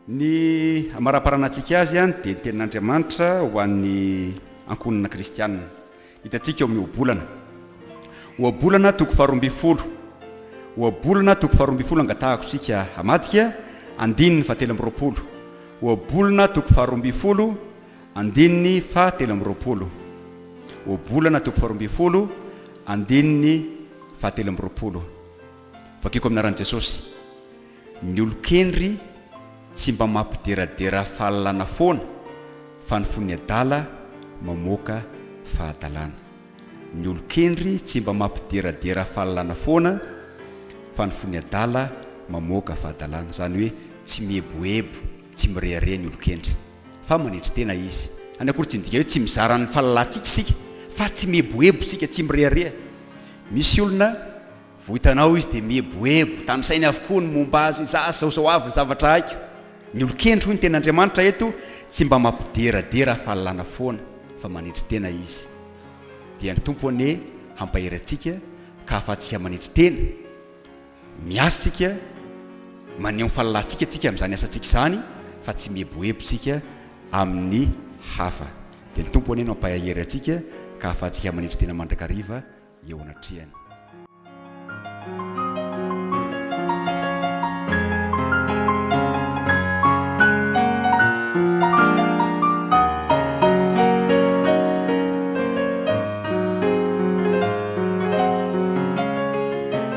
Ny amaraparana antsika azy dia ny tenin'Andriamanitra ho an'ny ankohonana kristiana. Hitantsika ao amin'ny Ohabolana. Ohabolana toko faharoa ambin'ny folo. Ohabolana toko faharoa ambin'ny folo angatahako isika hamadika andininy fahatelo amby roapolo. Ohabolana toko faharoa ambin'ny folo Andininy faha telo amby roapolo. Ohabolana toko faharoa ambin'ny folo, andininy faha telo amby roapolo. Vakiko amin'ny anaran'i Jesosy. Ny olon-kendry tsy mba mampideradera fahalalana foana fa ny fon'ny adala mamoaka fahadalana. Ny olon-kendry tsy mba mampideradera fahalalana foana fa ny fon'ny adala mamoaka fahadalana. Izany hoe tsy mieboebo, tsy mirehareha ny olon-kendry. Fa manetry tena izy. Any akory tsy midika hoe tsy mizara ny fahalalantsika isika, fa tsy mieboebo isika, tsy mirehareha. Misy olona, vao hitanao izy dia mieboebo, tanisainy avokoa ny momba azy, za zao zao avy ny zavatra haiko. Ny olon-kendry hoy ny tenin'Andriamanitra eto tsy mba mampideradera fahalalana foana, fa manetry tena izy. Dia ny Tompo anie hampahery antsika ka hahafahantsika manetry tena. Miasa tsika, maneho ny fahalalantsika tsika amin'izany asantsika izany fa tsy mieboebo tsika amin'ny hafa. Dia ny Tompo anie no hampahery antsika ka ahafahantsika manetry tena mandrakariva eo anatrehany.